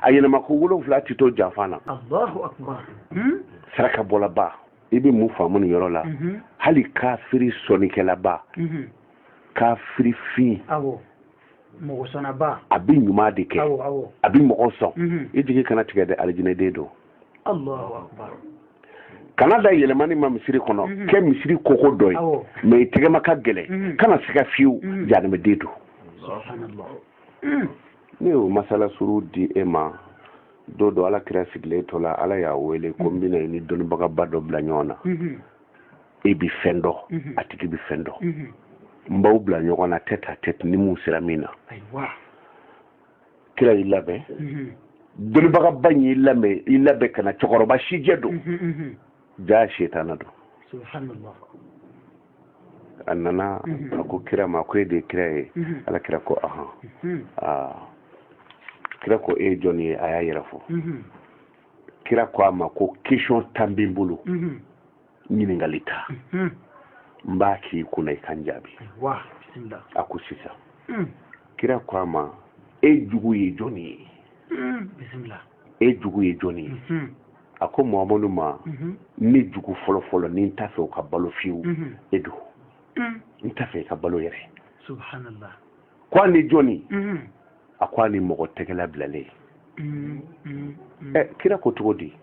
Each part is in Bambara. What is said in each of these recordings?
a yɛlɛma ko wolonfila ti to janfan na allahu akbar saraka bɔlaba i bɛ mun faamu nin yɔrɔ la mhm. hali kafiri sɔnnikɛlaba mhm. kafiri fin mɔgɔ sɔnnaba a bɛ ɲuman de kɛ a bɛ mɔgɔ sɔn mhm. i jigi kana tigɛ dɛ alijinɛden don kana da yɛlɛmani ma misiri kɔnɔ kɛ misiri koko dɔ ye mɛ i tɛgɛma ka gɛlɛn kana siga fiyewu jahanamɛden don ne y'o masala surun di e ma don dɔ ala kira sigilen to la ala y'a wele ko n bɛna i ni dɔnnibagaba dɔ bila ɲɔgɔn na e bi fɛn dɔn a tigi bi fɛn dɔn n b'aw bila ɲɔgɔn na tête à tête ni mun sera min na kira y'i labɛn dɔnnibagaba in y'i labɛn ka na cɛkɔrɔba sijɛ don jaa setana don a nana a ko kira ma ko e de ye kira ye ala kira ko ahan aa kira ko e ye jɔn ye a y'a yɛrɛ fɔ kira ko a ma ko question tan bɛ n bolo ɲininkali tan n b'a k'i kunna i ka n jaabi a ko sisan kira ko a ma e jugu ye jɔn ye e jugu ye jɔni ye mhm. a ko mamadu ma mhm. ne jugu fɔlɔ fɔlɔ ni n t'a fɛ o ka balo fiyewu mhm. e don mm. n t'a fɛ i ka balo yɛrɛ subhanallah ko ani jɔni a ko ani mɔgɔ tɛgɛla bilalen mm, mm, ɛ eh, kira ko cogo di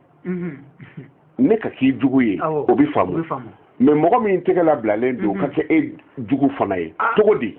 ne ka k'i jugu ye o bɛ faamu mɛ mɔgɔ min tɛgɛla bilalen don ka kɛ e jugu fana ye ah. cogo di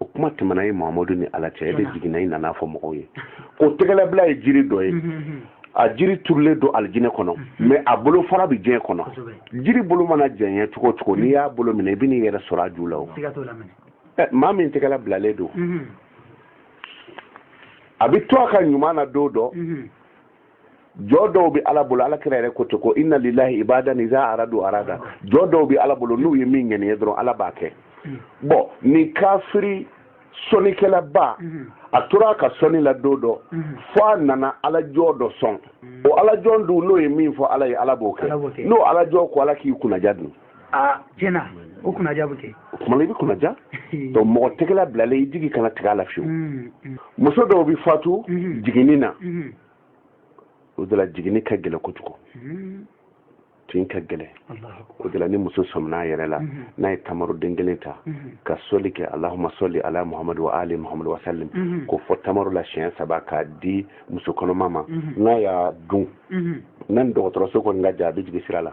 o kuma tɛmɛna e mamadu ni ala cɛ e de jiginna i nana a fɔ mɔgɔw ye ko tɛgɛlabila ye jiri dɔ ye mhm, mhm. a jiri turulen don alijinɛ kɔnɔ mhm. mɛ a bolofara bɛ diɲɛ kɔnɔ jiri bolo mana janya cogo cogo n'i y'a bolo minɛ i bɛ n'i yɛrɛ sɔrɔ a ju la o eh, maa min tɛgɛla bilalen don a bɛ to a ka ɲuman na don dɔ jɔn dɔw bɛ ala bolo ala kira yɛrɛ ko ten ko inna lillahi ibadan iza aradu arada jɔn dɔw bɛ ala bolo n'u ye min ŋaniya dɔrɔn ala b'a kɛ mm. bɔn nin kafiri sɔnnikɛlaba mm-hmm. a tora a ka sɔnni la don dɔ mm-hmm. fo a nana ala jɔn dɔ sɔn mm. o ala jɔn dun n'o ye min fɔ ala ye ala b'o kɛ n'o ala jɔn ko ala k'i kunnaja dun aa tiɲɛ na o kunnaja bɛ kɛ o tuma na i bɛ kunnaja donc mɔgɔ tɛgɛla bilalen i jigi kana tigɛ a la fiyewu mm, mm. muso dɔw bɛ fatu mm-hmm. jiginni na mm-hmm. o de la jiginni ka gɛlɛn kojugu mm-hmm. tin ka gɛlɛn o de la ni muso sɔmin'a yɛrɛ la n'a ye tamaroden kelen ta ka sɔli kɛ allahuma sɔli ala muhamadu wa ali muhamadu wasalim k'o fɔ tamaro la siɲɛ saba k'a di muso kɔnɔma ma n'a y'a dun n'a ni dɔgɔtɔrɔso kɔni ka jan a bɛ jigin sira la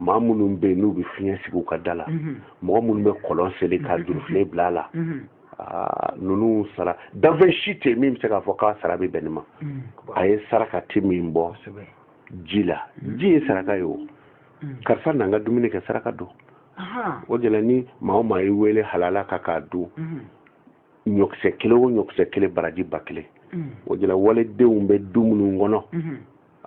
maa minnu bɛ yen n'u bɛ fiɲɛ sigi u ka da la mhm. mɔgɔ minnu bɛ kɔlɔn sen ka mhm. jurufilen bila a la mhm. ah, ninnu sara danfɛn si tɛ min bɛ se k'a fɔ k'a sara bɛ bɛn nin ma a ye saraka ti min bɔ ji la ji ye saraka ye o karisa n'an ka dumuni kɛ saraka don o de la ni maa o maa y'i wele halala ka k'a dun ɲɔkisɛ kelen o ɲɔkisɛ kelen baraji ba kelen o de la walidenw bɛ du minnu kɔnɔ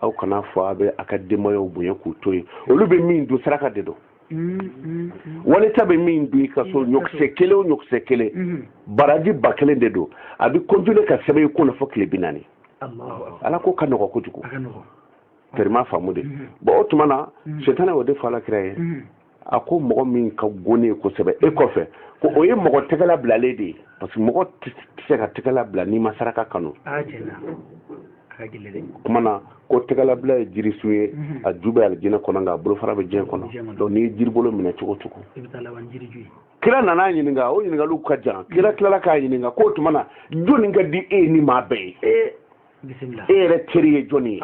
aw kan'a fɔ a bɛ a ka denbayaw bonya k'u to yen olu bɛ min dun saraka de don mm, mm, mm. wali ta bɛ min dun i ka so ɲɔkisɛ kelen o ɲɔkisɛ kelen baraji ba kelen de don a bɛ continuer ka sɛbɛn i kun na fo tile bi naani ala ko ka nɔgɔ kojugu tɛrima faamu de bon o tuma na setana y'o de fɔ ala kira ye a ko mɔgɔ min ka go ne ye kosɛbɛ e kɔfɛ ko o ye mɔgɔ tɛgɛ labilalen de ye parce que mɔgɔ tɛ se ka tɛgɛ labila n'i ma saraka kanu kuma na ko tɛgɛlabila ye jirisun ye mhm. a ju bɛ alijinɛ kɔnɔ nka a bolofara bɛ diɲɛ kɔnɔ donc n'i ye jiribolo minɛ cogo o cogo kira nana a ɲininka o ɲininkaliw ka jan kira tilala k'a ɲininka k'o tuma na jɔni ka d'i ye ni maa bɛɛ ye e yɛrɛ teri ye jɔni ye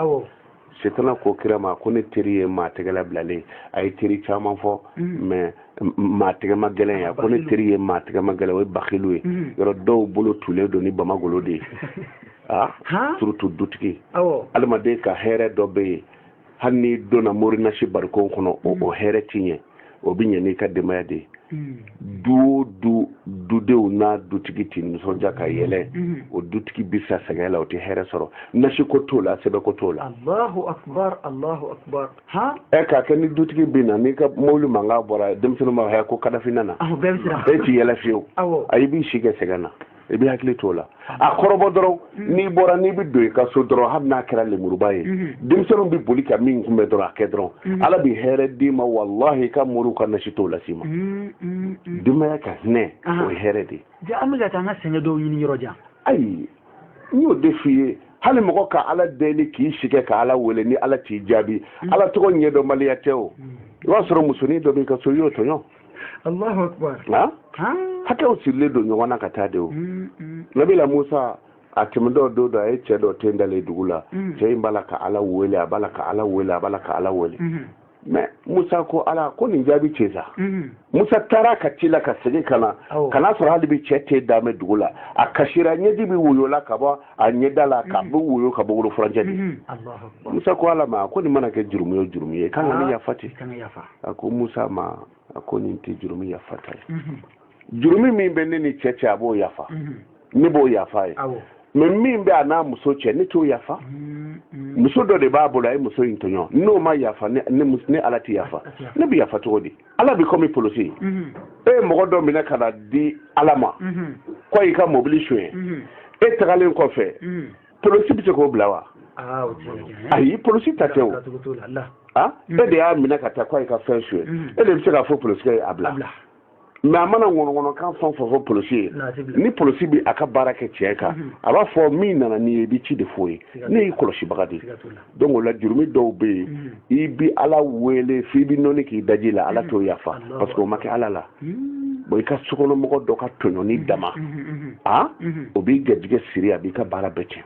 setana ko kira ma ko ne teri ye maa tɛgɛ labilalen a ye teri caman fɔ mm. mais maa tɛgɛmagɛlɛn ye a ko ne teri ye maa tɛgɛmagɛlɛn o ye bakilu ye mm. yɔrɔ dɔw bolo tulen don ni bamagolo de ye a ah, surtout dutigi adamaden ka hɛrɛ dɔ bɛ yen hali n'i donna morinasi barikon kɔnɔ o mm. hɛrɛ ti ɲɛ o bɛ ɲɛ n'i ka denbaya de ye mm. du o du dudenw n'a dutigi tɛ nisɔndiya ka yɛlɛ mm. o dutigi bɛ sa sɛgɛn la o tɛ hɛrɛ sɔrɔ nasi ko t'o la sɛbɛn ko t'o la. alahu akubar alahu akubar. han. ɛ k'a kɛ ni dutigi bɛ na n'i ka mobili mankan bɔra denmisɛnninw b'a fɔ ko kadafi nana. awɔ bɛɛ bɛ siran. e ti yɛlɛ fiyewu. awɔ. ayi i b'i si kɛ sɛgɛn na. i bɛ hakili to la a kɔrɔbɔ dɔrɔn mm-hmm. n'i bɔra n'i bɛ don i ka so dɔrɔn hali n'a kɛra lemuruba ye mm-hmm. denmisɛnninw bɛ boli ka min kunbɛn dɔrɔn a kɛ dɔrɔn mm-hmm. ala bɛ hɛrɛ d'i ma walahi i ka moriw ka nasi t'o las'i ma denbaya ka hinɛ o ye hɛrɛ de ye an bɛ ka taa an ka sɛgɛn dɔw ɲini yɔrɔ jan ayi n y'o de f'i ye hali mɔgɔ ka ala deli k'i si kɛ ka ala wele ni ala t'i jaabi ala tɔgɔ ɲɛdɔnbaliya tɛ o i b'a sɔrɔ musonin dɔ b'i ka so i y'o tɔɲɔ Allahu akbar hakɛw sirilen don ɲɔgɔn na ka taa de o mm, mm. nabila musa a tɛmɛtɔ don dɔ a ye cɛ dɔ ten dalen dugu la mm. cɛ in b'a la ka ala wele a b'a la ka ala wele a b'a la ka ala wele mm-hmm. mais musa ko ala ko nin jaabi cɛ sa mm-hmm. musa taara ka tila ka segin ka na ka n'a sɔrɔ hali bi cɛ ten dalen bɛ dugu la a kasira ɲɛji bi woyo la ka bɔ a ɲɛda la k'a bɛ woyo ka bɔ wolo furancɛ de musa ko ala ma ko nin mana kɛ jurumu ye jurumu ye k'an ka ne yafa ten a ko musa ma a ko nin tɛ jurumu yafata ye jurumu min bɛ ne ni cɛ cɛ a b'o yafa ne b'o yafa ye mais min bɛ a n'a muso cɛ ne t'o yafa muso dɔ de b'a bolo a ye muso in tɔɲɔ n'o ma yafa ne ala tɛ yafa ne bɛ yafa cogo di ala bi komi polosi mhm. e ye mɔgɔ dɔ minɛ ka na di ala ma mhm. ko a y'i ka mobili suɲɛ mhm. e tagalen kɔfɛ polosi bɛ se k'o bila wa ah, ayi polosi ta tɛ o ah, e de y'a minɛ ka taa ko a y'i ka fɛn suɲɛ e de bɛ se k'a fɔ polosi ye a bila mais a mana ŋɔnɔŋɔnɔkan fɛn fɛn fɔ polosi ye ni polosi bɛ a ka baara kɛ tiɲɛ kan a b'a fɔ min nana n'i ye i bɛ ci de f'o ye ne y'i kɔlɔsibaga de ye donc o la jurumi dɔw bɛ yen mm. i bi ala wele f'i bi nɔni k'i daji la ala mm. t'o yafa parce que o ma kɛ ala la mm. bon i ka sokɔnɔmɔgɔ dɔ ka tɔɲɔni dama a o b'i garijɛgɛ siri a b'i ka baara bɛɛ tiɲɛ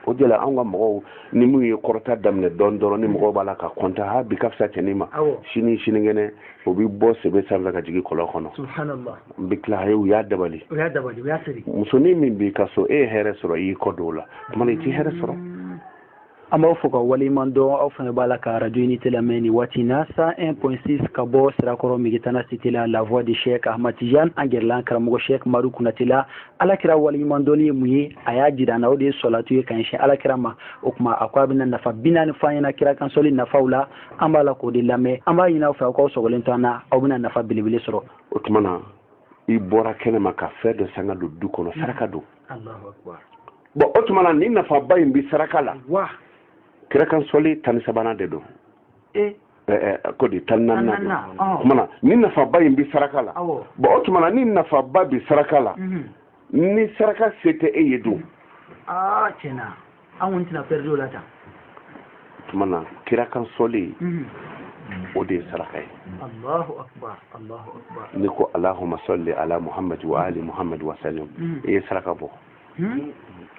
o de la anw ka mɔgɔw ni minnu ye kɔrɔta daminɛ dɔɔni dɔrɔn ni mɔgɔw b'a la ka kɔntan ha bi ka fisa cɛnin ma sini sinikɛnɛ o bɛ bɔ sebe sanfɛ ka jigin kɔlɔn kɔnɔ n bɛ tila a ye u y'a dabali musonin min b'i ka so e ye hɛrɛ sɔrɔ i y'i kɔ don o la tuma i t'i hɛrɛ sɔrɔ mm. an b'aw fɔ ka waleɲuman dɔn aw fana b'a la ka radio unité lamɛn nin waati na 101.6 ka bɔ sirakɔrɔ megetana cité la la voix de chek ahmad tijan an gɛrɛla an karamɔgɔ chek madu kunatɛ la ala kira waleɲuman dɔnni ye mun ye a y'a jira an na o de ye sɔlatu ye ka ɲɛsin ala kira ma o tuma a ko a bɛna nafa binaani fɔ an ɲɛna kira kan sɔli nafaw la an b'a la k'o de lamɛn an b'a ɲini aw fɛ aw k'aw sɔgɔlen to an na aw bɛna nafa belebele sɔrɔ o tuma na i bɔra kɛnɛ ma ka fɛn dɔ san ka don du kɔnɔ saraka don bon o tuma na ni nafaba in bɛ saraka la kira kan sɔli tan ni sabanan de don e? ko di tan ni naani tuma na ni nafaba in bɛ saraka la bon o tuma na ni nafaba bɛ saraka la mhm. ni saraka se tɛ e ye dun ah, an kɔni tɛna pɛridi o la tan tuma na kira kan sɔli mhm. o de ye saraka ye allahu akbar allahu akbar n'i ko allahumma salli ala muhammad wa ali muhammad wa sallim mhm. i ye saraka bɔ mhm.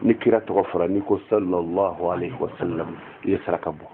ni kira tɔgɔ fɔra n'i ko sallallahu alaihi wa sallam i ye saraka bɔ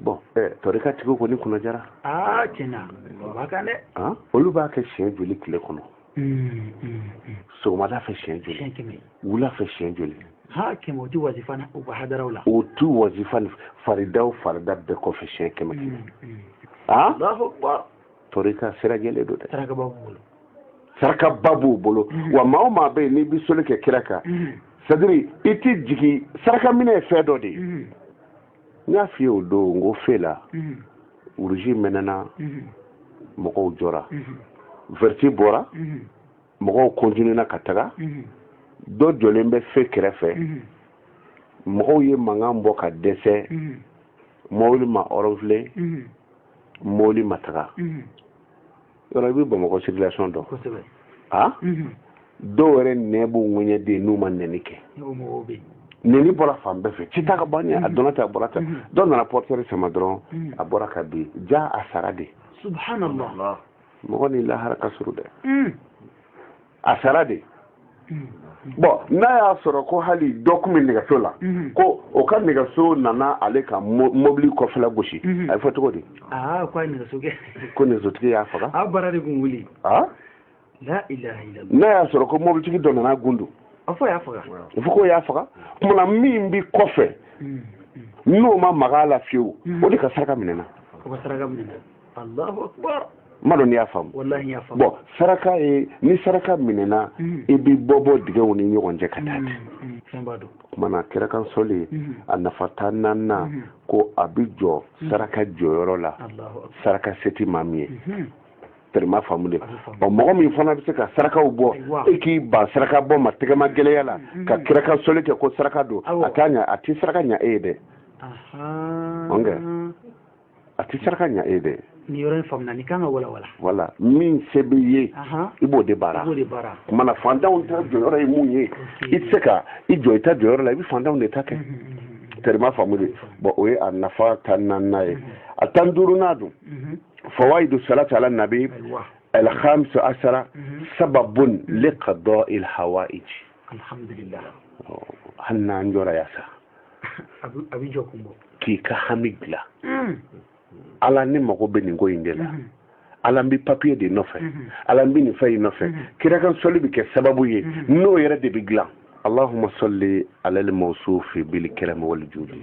bon tɔrika tigiw kɔni kunna diyara aa tiɲɛna o b'a kan dɛ olu b'a kɛ siɲɛ joli tile kɔnɔ hmm, hmm, hmm. sɔgɔmada fɛ siɲɛ joli wula fɛ siɲɛ joli ha kɛmɛ o ti wazifa u ka hadaraw la o tu wazifa faridaw farida bɛɛ kɔfɛ siɲɛ kɛmɛ kɛmɛ a tɔrika sira jɛlen don dɛ sarakaba b'u bolo sarakaba b'u bolo wa maa o maa bɛ yen n'i bɛ sɔli kɛ kira kan c'est-à-dire i t'i jigi saraka minɛ ye fɛn dɔ de ye n y'a f'i ye o don n ko fe la uruzi mɛnɛna mɔgɔw jɔra vɛriti bɔra mɔgɔw kɔntinena ka taga dɔ jɔlen bɛ fe kɛrɛfɛ mɔgɔw ye mankan bɔ ka dɛsɛ mɔbili ma ɔrɔnfile mɔbili ma taga yɔrɔ i bɛ bamakɔ circulation dɔn kosɛbɛ a dɔw yɛrɛ nɛn b'u ŋɛɲɛ de n'u ma nɛni kɛ nɛni bɔra fan bɛɛ fɛ ci ta ka ban a dɔnna ta a bɔra ta dɔ nana portière sama dɔrɔn a bɔra ka bin ja a sara de subhanallah mɔgɔ ni lahara ka surun dɛ a sara de bɔn n'a y'a sɔrɔ ko hali dɔ tun bɛ nɛgɛso la ko o ka nɛgɛso nana ale ka mobili kɔfɛla gosi a bɛ fɔ cogo di ko nɛgɛsotigi y'a faga n'a y'a sɔrɔ ko mobilitigi dɔ nana gundu a fɔ ko y'a faga kuma na min bɛ kɔfɛ n'o ma maga a la fiyewu o de ka saraka minɛna m'a dɔn n'i y'a faamu bɔn saraka ye ni saraka minɛna mm. i bɛ bɔ bɔ digɛw ni ɲɔgɔn cɛ ka taa mm, ten mm, kuma na kira kan sɔli a nafa tan naaninan ko a bɛ jɔ saraka jɔyɔrɔ la saraka se tɛ maa min ye mm-hmm. tɛrɛ m'a faamu dɛ ɔ mɔgɔ min fana bɛ se ka sarakaw bɔ e k'i ban saraka bɔ ma tɛgɛma gɛlɛya la mm-hmm. ka kira kan sɔli kɛ ko saraka don a t'a ɲa a tɛ saraka ɲa e ye dɛ a tɛ saraka ɲa e ye dɛ nin yɔrɔ in faamuna ni k'an k'a walawala voilà min se b'i ye i b'o de baara kuma na fantanw ta jɔyɔrɔ ye mun ye i tɛ se ka i jɔ i ta jɔyɔrɔ la i bɛ fantanw de ta kɛ tɛrɛ m'a faamu dɛ bɔn o ye a nafa tan naaninan ye a tan duurunan dun fawaidu salati ala nabi alhamsu asara sababun liqadɔ il hawaiji alhamdulillah oh, hali n'an jɔra yan sa an bɛ jɔ kun bɔ k'i ka hami dilan hmm. ala ne mago bɛ nin ko in de la hmm. ala n bɛ papiye de nɔfɛ hmm. ala n bɛ nin fɛn in nɔfɛ kira kan sɔli bɛ kɛ sababu ye n'o yɛrɛ de bɛ dilan allahumma salli ala al-mawsufi bil karam wal judi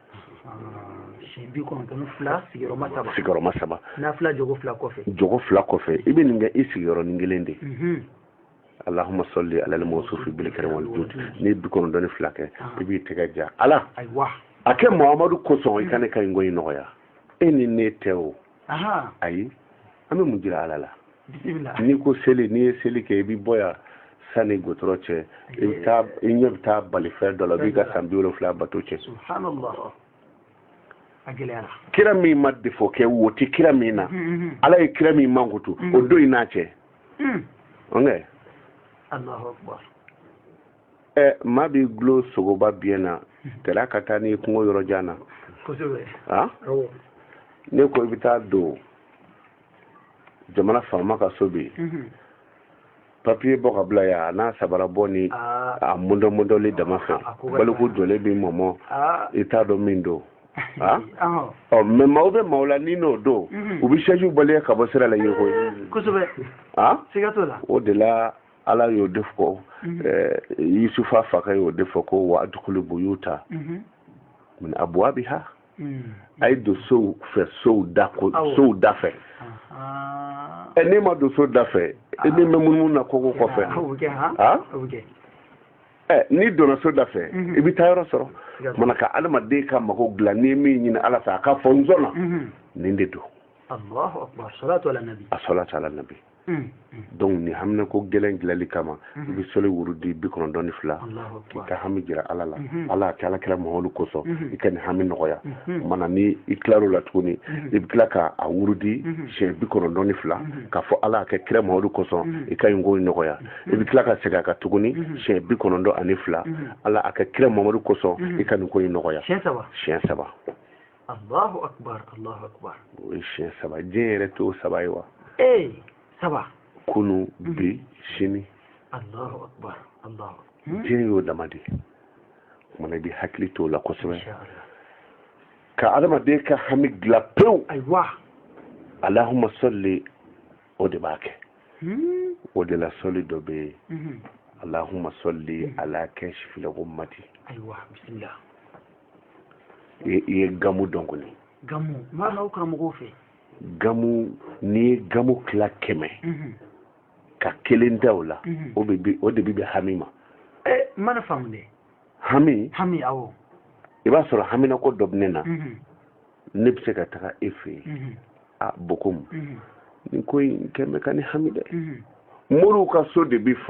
bi kɔnɔntɔn fila sigiyɔrɔma saba sigiyɔrɔma saba nafila jɔko fila kɔfɛ jɔko fila kɔfɛ i bɛ nin kɛ i sigiyɔrɔnin kelen de allahumma salli ala al-mawsufi bil karam wal judi n'i ye bi kɔnɔntɔn ni fila kɛ i b'i tɛgɛ ja ala a kɛ muhamadu kosɔn i ka ne ka nin ko in nɔgɔya e ni ne tɛ o ayi an bɛ mun jira ala la n'i ko seli n'i ye seli kɛ i bɛ bɔ yan sani gotɔrɔ cɛ i bɛ taa i ɲɛ bɛ taa balifɛn dɔ la b'i ka san bi wolonfila bato cɛn kira min ma defo kɛ wo tɛ kira min na mm-hmm, mm-hmm. ala ye kira min mankutu o mm-hmm. don in n'a cɛ ɛ maa b'i gulo sogoba biɲɛ na tila ka taa n'i kungo yɔrɔ jan na a ne ko i bɛ taa don jamana faama ka so bi mhm. papiye bɔ ka bila yan a n'a sabara bɔ ni ah. a mɔndɔmɔndɔli dama fɛ ah, baliku jɔlen b'i mɔmɔ ah. i t'a dɔn min don Ah? ɔ mɛ maaw bɛ maaw la ni n'o don mhm. u bɛ se k'i baliya ka bɔ sira la yen koyi kosɛbɛ o de la ala y'o de fɔ mhm. eh, yusufa fakɛ y'o de fɔ ko wa adukulu buyuta mhm. min abuwabiha mhm. a ye don sow fɛ sow da ko sow da fɛ ɛ n'e ma don so da fɛ e ni bɛ munumunu na kogo kɔfɛ a ɛ n'i donna so da fɛ i bɛ taa yɔrɔ sɔrɔ mana ka adamaden ka mago dilan n'i ye min ɲini ala fɛ a ka fɔ n sɔnna nin de don a salatu ala nabi Mm, mm. donc ni haminako gɛlɛn dilali kama mm-hmm. i bɛ sɔli wurudi bi kɔnɔntɔn ni fila k'i ka hami jira ala la mm-hmm. ala a kɛ ala kira mamadu kosɔn mm-hmm. i ka nin hami nɔgɔya mana ni i tilar'o la tuguni i bɛ tila ka a wurudi siɲɛ bi kɔnɔntɔn ni fila k'a fɔ ala a kɛ kira mamadu kosɔn i ka nin ko nɔgɔya i bɛ tila ka segin a kan tuguni siɲɛ bi kɔnɔntɔn ani fila ala a kɛ kira mamadu kosɔn i ka nin ko in nɔgɔya siɲɛ saba Allahu akbar Allahu akbar o ye siɲɛ saba diɲɛ yɛrɛ t'o saba ye wa ee saba kunu mhm. bi sini Allahu akbar Allahu hmm? diɲɛ y'o dama de ye mana i bɛ hakili t'o la kosɛbɛ ka adamaden ka hami dilan pewu ayiwa alahuma sɔli o de b'a kɛ hmm? o de la sɔli dɔ bɛ yen mhm. alahuma sɔli mhm. ala kasifili gumati ayiwa bisimila i ye gamu dɔn kɔni gamu m'a n'aw karamɔgɔw fɛ gamu n'i ye gamu tila kɛmɛ mhm. ka kelen da o la mhm. o de bi bɛn hami ma eh, n mana faamu dɛ hami hami awɔ i b'a sɔrɔ haminako dɔ bɛ ne na mhm. ne bɛ se ka taga e fɛ yen a bokomu nin ko in kɛmɛ ka ne hami dɛ moriw ka so de bi fa